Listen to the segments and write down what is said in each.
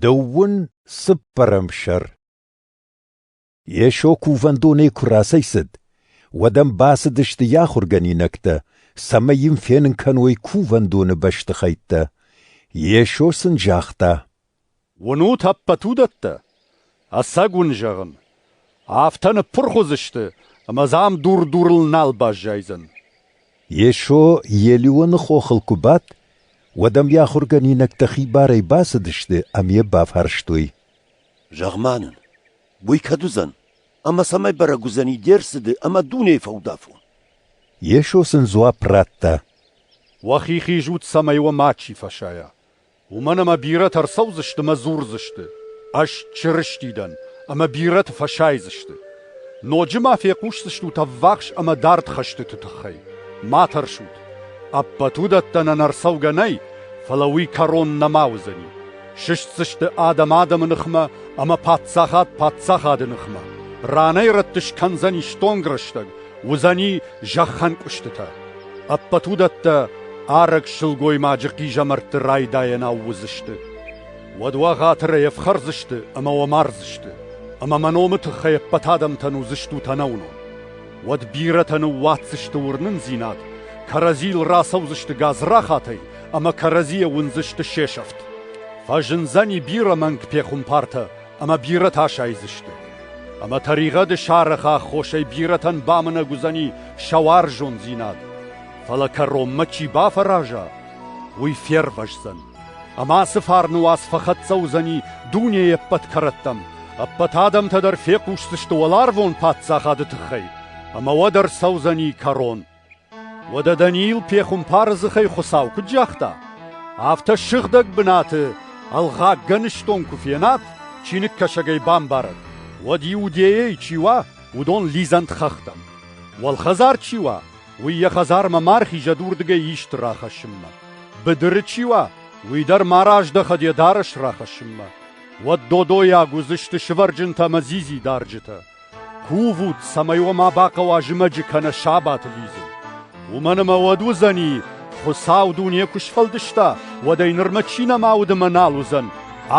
Дӕуӕн цыппӕрӕм сӕр. Йесо кувӕндонӕй куы рацӕйцыд, уӕд ӕм бацыдысты йӕ ахуыргӕнинӕгтӕ, цӕмӕй йын фенын кӕной кувӕндоны бӕстыхӕйттӕ. Йесо сын загъта: «Уынут ӕппӕт уыдӕттӕ? Ӕцӕг уын зӕгъын, афтӕ ныппырх уыдзысты, ӕмӕ дзы ам дур-дурыл нал баззайдзӕн. Йесо Елионы хохыл куы бадт, уӕд ӕм йӕ ахуыргӕнинӕгтӕ хибарӕй бацыдысты ӕмӕ йӕ бафарстой. «Зӕгъ-ма нын, уый кӕд уыдзӕн? Ӕмӕ цӕмӕй бӕрӕг уыдзӕни де рцыды ӕмӕ дунейы фӕудафон?» Йесо сын дзуапп радта. «Уӕхи хизут, цӕмӕй уӕ мачи фӕсайа. Уымӕн ӕмӕ бирӕтӕ ӕрцӕудзысты ӕмӕ дзурдзысты: Ӕз Чырысти дӕн, ӕмӕ бирӕты фӕсайдзысты. Ноджы ма фехъусдзыстут ӕввахс ӕмӕ дард хӕстыты тыххӕй. Ма тӕрсут: ӕппӕт уыдӕттӕ нӕ ӕрцӕугӕ нӕй, фӕлӕ уый кӕрон нӕма уыдзӕни. Сыстдзысты адӕм адӕмы ныхмӕ ӕмӕ паддзахад паддзахады ныхмӕ. Ранӕй-рӕтты скӕндзӕни стонг рӕстӕг, Уыдзӕни зӕххӕнкъуыстытӕ. Ӕппӕт уыдӕттӕ арӕг сылгоймаджы хъизӕмӕртты райдайӕнау уыдзысты. Уӕд уӕ хатырӕй ӕфхӕрдзысты ӕмӕ уӕ мардзысты, ӕмӕ мӕ номы тыххӕй ӕппӕт адӕмтӕн уыдзыстут ӕнӕуынон. Уӕд бирӕтӕ ныууадздзысты уырнындзинад, кӕрӕдзийыл рацӕудзысты гадзрахатӕй ӕмӕ кӕрӕдзийӕ уындзысты се сӕфт. Фӕзындзӕни бирӕ мӕнг пехуымпартӕ ӕмӕ бирӕтӕ сайдзысты. Ӕмӕ тӕригъӕды сарӕхы аххосӕй бирӕтӕн бамынӕг уыдзӕни сӕ уарзондзинад, фӕлӕ кӕронмӕ чи бафӕраза, уый фервӕздзӕн. Ӕмӕ ацы фарны уац фӕхӕццӕ уыдзӕни дунейы ӕппӕт кӕрӕттӕм, ӕппӕт адӕмтӕ дӕр фехъусдзысты уӕларвон паддзахады тыххӕй, ӕмӕ уӕд ӕрцӕудзӕни кӕрон. Уӕдӕ Даниил пехуымпары дзыхӕй Хуыцау куыд загъта, афтӕ сыгъдӕг бынаты ӕлгъаггӕныстон куы фенат, чиныгкӕсӕгӕй бамбарӕт, уӕд Иудейӕйы чи уа, уыдон лидзӕнт хӕхтӕм. Уӕлхӕдзар чи уа, уый йӕ хӕдзармӕ ма рхизӕд уырдыгӕй исты рахӕссынмӕ. Быдыры чи уа, уый дӕр ма раздӕхӕд йӕ дарӕс рахӕссынмӕ. Уӕд додойаг уыдзысты сывӕрджынтӕ ӕмӕ дзидзи дарджытӕ. Кувут, цӕмӕй уӕ ма бахъӕуа зымӕджы кӕнӕ сабаты лидзын. Уымӕн ӕмӕ уӕд уыдзӕни, Хуыцау дуне куы сфӕлдыста, уӕд ӕй нырмӕ чи нӕма уыд ӕмӕ нал уыдзӕн,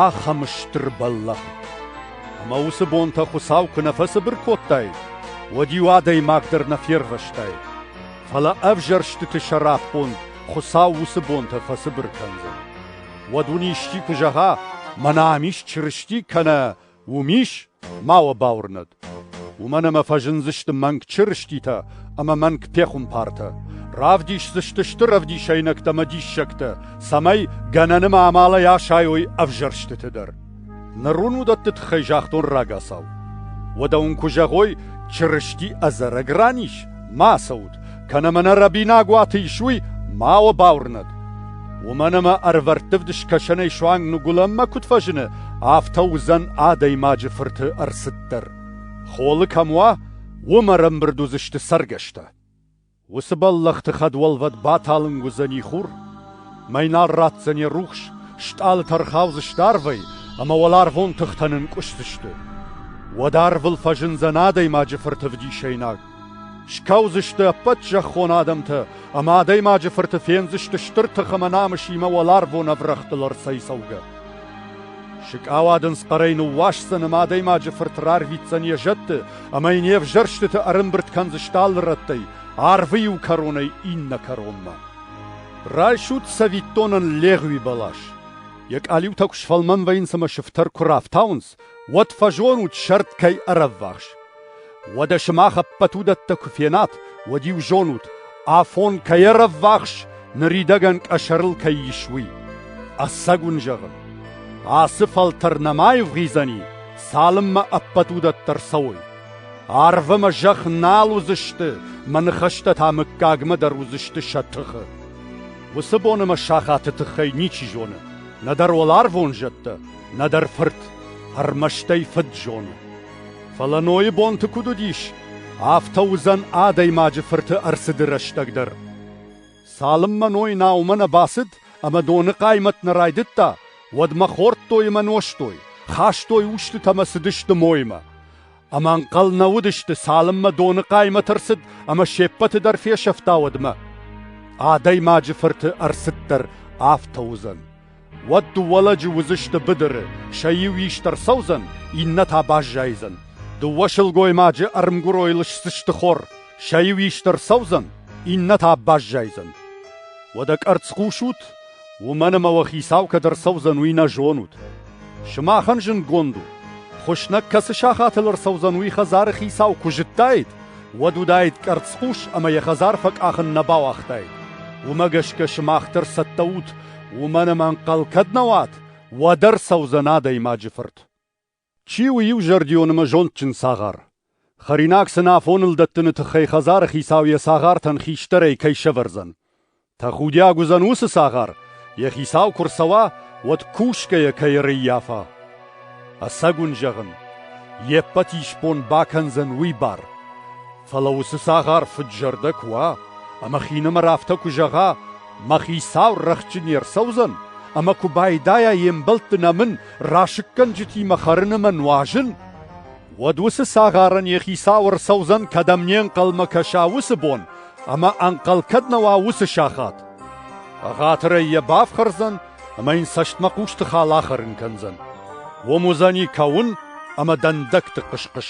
ахӕм стыр бӕллӕх. Ӕмӕ уыцы бонтӕ Хуыцау куы нӕ фӕцыбыр кодтаид, уӕд-иу адӕймаг дӕр нӕ фервӕзтаид. Фӕлӕ ӕвзӕрстыты сӕраппонд Хуыцау уыцы бонтӕ фӕцыбыр кӕндзӕн. Уӕд уын исчи куы зӕгъа, мӕнӕ ам ис Чырысти кӕнӕ Уым ис ма уӕ бауырнӕд. Уымӕн ӕмӕ фӕзындзысты мӕнг чырыститӕ ӕмӕ мӕнг пехуымпартӕ. Равдисдзысты стыр ӕвдисӕйнӕгтӕ ӕмӕ диссӕгтӕ, цӕмӕй гӕнӕны ма амалӕй асайой ӕвзӕрстыты дӕр. Ныр уын уыдӕтты тыххӕй загътон рагацау. Уӕдӕ уын куы зӕгъой, Чырысти ӕдзӕрӕг ран ис, ма ацӕут, кӕнӕ мӕнӕ рӕбинагуаты исуй ма уобӕл уырнӕд. Уымӕн ӕмӕ ӕрвӕрттывд скӕсӕнӕй суанг ныгуылӕнмӕ куыд фӕзыны, афтӕ уыдзӕн адӕймаджы фырты ӕрцыд дӕр. Холы кӕм уа, уым ӕрӕмбырд уыдзысты цӕргӕстӕ. Уыцы бӕллӕхты хӕдуӕлвӕд баталынг уыдзӕни хур, мӕйнал ратдзӕни рухс, стъалытӕ ӕрхаудзысты арвӕй ӕмӕ уӕларвон тыхтӕ нынкъуысдзысты. Уӕд арвыл фӕзындзӕн адӕймаджы фырты вдисӕйнаг. Скӕудзысты ӕппӕт зӕххон адӕмтӕ, ӕмӕ адӕймаджы фырты фендзысты стыр тых ӕмӕ намысимӕ уӕларвон ӕврӕгътыл ӕрцӕйцӕугӕ. Сыкъауадындз хъӕрӕй ныууасдзӕн ӕмӕ адӕймаджы фырт рарвитдзӕн йӕ зӕдты ӕмӕ йын йе взӕрстыты ӕрӕмбырд кӕндзысты алы рӕттӕй, арвы иу кӕронӕй иннӕ кӕронмӕ. Райсут цӕвиттонӕн легъуи бӕлас. Йӕ къалиутӕ куы сфӕлмӕн вӕййынц ӕмӕ сыфтӕр куы рафтауынц, уӕд фӕзонут сӕрд кӕй ӕрӕввахс. Уӕдӕ сымах ӕппӕт уыдӕттӕ куы фенат, уӕд-иу зонут, афон кӕй ӕрӕввахс, ныридӕгӕн къӕсӕрыл кӕй ис, уый. Ӕцӕг уын зӕгъын, ацы фӕлтӕр нӕма аивгъуыйдзӕни, цалынмӕ ӕппӕт уыдӕттӕ рцӕуой. Арв ӕмӕ зӕхх нал уыдзысты, мӕ ныхӕстӕ та мыггагмӕ дӕр уыдзысты сӕ тыхы. Уыцы бон ӕмӕ сахаты тыххӕй ничи зоны, нӕдӕр уӕларвон зӕдтӕ, Нӕдӕр фырт ӕрмӕстӕй фыд зоны. Фӕлӕ Нойы бонты куыд уыдис, афтӕ уыдзӕн адӕймаджы фырты ӕрцыды рӕстӕг дӕр. Цалынмӕ Ной наумӕ нӕ бацыд ӕмӕ доны хъаймӕт нӕ райдыдта, уӕдмӕ хордтой ӕмӕ нозтой, хастой устытӕ ӕмӕ цыдысты моймӕ. Ӕмӕ ӕнхъӕл нӕ уыдысты, цалынмӕ доны хъаймӕт ӕрцыд ӕмӕ се ппӕты дӕр фесӕфта, уӕдмӕ. Адӕймаджы фырты ӕрцыддӕр афтӕ уыдзӕн. Уӕд дыууӕ лӕджы уыдзысты быдыры, сӕ иу ист ӕрцӕудзӕн, иннӕ та баззайдзӕн. Дыууӕ сылгоймаджы ӕрмгуырой лысдзысты хор, сӕ иу ист ӕрцӕудзӕн, иннӕ та баззайдзӕн. Уӕдӕ къӕрцхъус ут Уымӕн ӕмӕ уӕ хицау кӕд ӕрцӕудзӕн, уый нӕ зонут. Сымахӕн зындгонд у, хуыснӕг кӕцы сахатыл ӕрцӕудзӕн, уый хӕдзары хицау куы зыдтаид, уӕд уыдаид къӕрцхъус ӕмӕ йӕ хӕдзар фӕкъахын нӕ бауагътаид. Уымӕ гӕсгӕ сымах дӕр цӕттӕ ут, уымӕн ӕмӕ ӕнхъӕл кӕд нӕ уат, уӕд ӕрцӕудзӕн адӕймаджы фырт. Чи у иузӕрдион ӕмӕ зондджын цагъар? Хӕринаг сын афоныл дӕттыны тыххӕй хӕдзары хицау йӕ цагъартӕн хистӕрӕй кӕй сӕвӕрдзӕн. Тӕхудиаг уыдзӕн уыцы цагъар, йӕ хицау куы рцӕуа, уӕд кусгӕйӕ кӕй ӕрӕййафа. Ӕцӕг уын зӕгъын, йе ппӕт исбон бакӕндзӕн уый бар. Фӕлӕ уыцы цагъар фыд-зӕрдӕ куы уа, ӕмӕ хинымӕр афтӕ куы зӕгъа, мӕ хицау рӕхджы не рцӕудзӕн, ӕмӕ куы байдайа йе мбӕлтты нӕмын расыггӕнджытимӕ хӕрын ӕмӕ нуазын, уӕд уыцы цагъарӕн йӕ хицау ӕрцӕудзӕн, кӕдӕм не нхъӕлмӕ кӕса уыцы бон, ӕмӕ ӕнхъӕл кӕд нӕ уа уыцы сахат. Ӕгъатырӕй йӕ бафхӕрдзӕн ӕмӕ йын цӕстмӕхъусты хал ахӕрын кӕндзӕн. Уым уыдзӕни кӕуын ӕмӕ дӕндӕгты хъыс-хъыс.